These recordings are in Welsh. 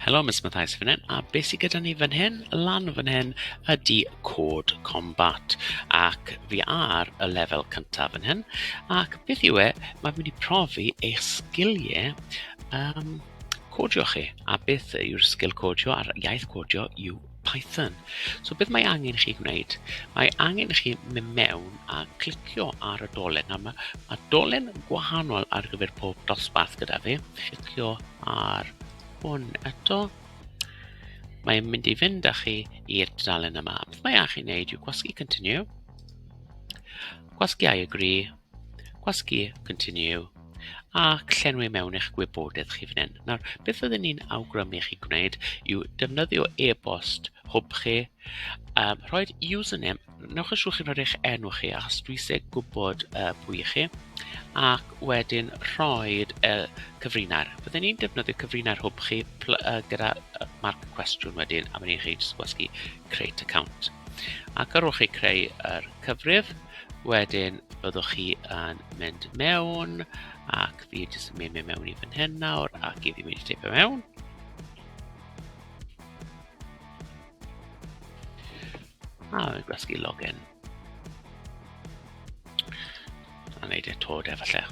Helo, Miss Mathais fan hyn, a beth sydd gyda ni fan hyn, lan fan hyn, ydy cod combat. Ac fi ar y lefel cyntaf fan hyn, ac beth yw e, mae'n mynd i profi eich sgiliau um, codio chi, a beth yw'r sgil codio a'r iaith codio yw Python. So beth mae angen i chi gwneud? Mae angen i chi mynd mewn a clicio ar y dolen. Nawr mae, mae dolen gwahanol ar gyfer pob dosbarth gyda fi. Clicio ar hwn eto. Mae'n mynd i fynd â chi i'r dudalen yma. Beth mae angen i chi wneud yw gwasgu continue. Gwasgu I agree. Gwasgu, continue, ac llenwi mewn eich gwybodaeth chi fan hyn. Nawr, beth oedden ni'n awgrymu chi gwneud yw defnyddio e-bost hwb chi, um, rhoi username, newch yn siŵr chi'n rhoi eich enw chi, achos dwi eisiau gwybod uh, pwy i chi, ac wedyn rhoi uh, cyfrinair. Fydden ni'n defnyddio cyfrinair hwb chi uh, gyda uh, marc cwestiwn wedyn, a wedyn chi'n gwasgu create account. Ac ar ôl chi creu yr cyfrif, Wedyn byddwch chi yn mynd mewn ac fi jyst yn mynd mewn i fan hyn nawr ac i fi mynd i teipio mewn. A ah, fi'n gwasgu login. A wneud e tod efallai.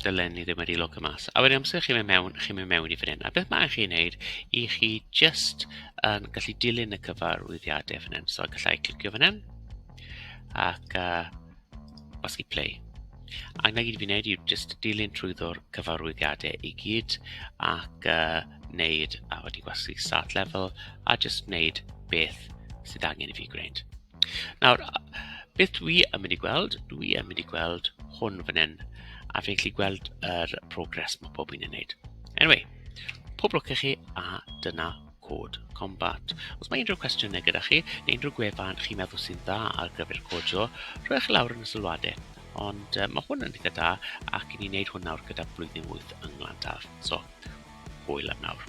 dylen ni ddim wedi logo mas. A wedyn amser chi'n mynd mewn, chi'n mynd mewn i fan hyn. A beth mae'n chi'n neud i chi just um, gallu dilyn y cyfarwyddiadau fan hyn. So gallai clicio fan hyn ac uh, os chi play. A na gyd fi'n neud yw just dilyn trwy ddwr cyfarwyddiadau i gyd ac uh, neud a wedi gwasgu start level a just neud beth sydd angen i fi gwneud. Nawr, beth dwi yn mynd i gweld, dwi yn mynd i gweld hwn fan hyn. A fi'n gallu gweld yr progress mae pob un yn wneud. Anyway, pob lwc i chi a dyna cod combat. Os mae unrhyw cwestiynau gyda chi, neu unrhyw gwefan chi'n meddwl sy'n dda ar gyfer codio, rhoi chi lawr yn y sylwadau. Ond uh, mae hwn yn ddigon da ac i ni'n wneud hwn nawr gyda blwyddyn wyth yng Nglandaf. So, hwyl am nawr.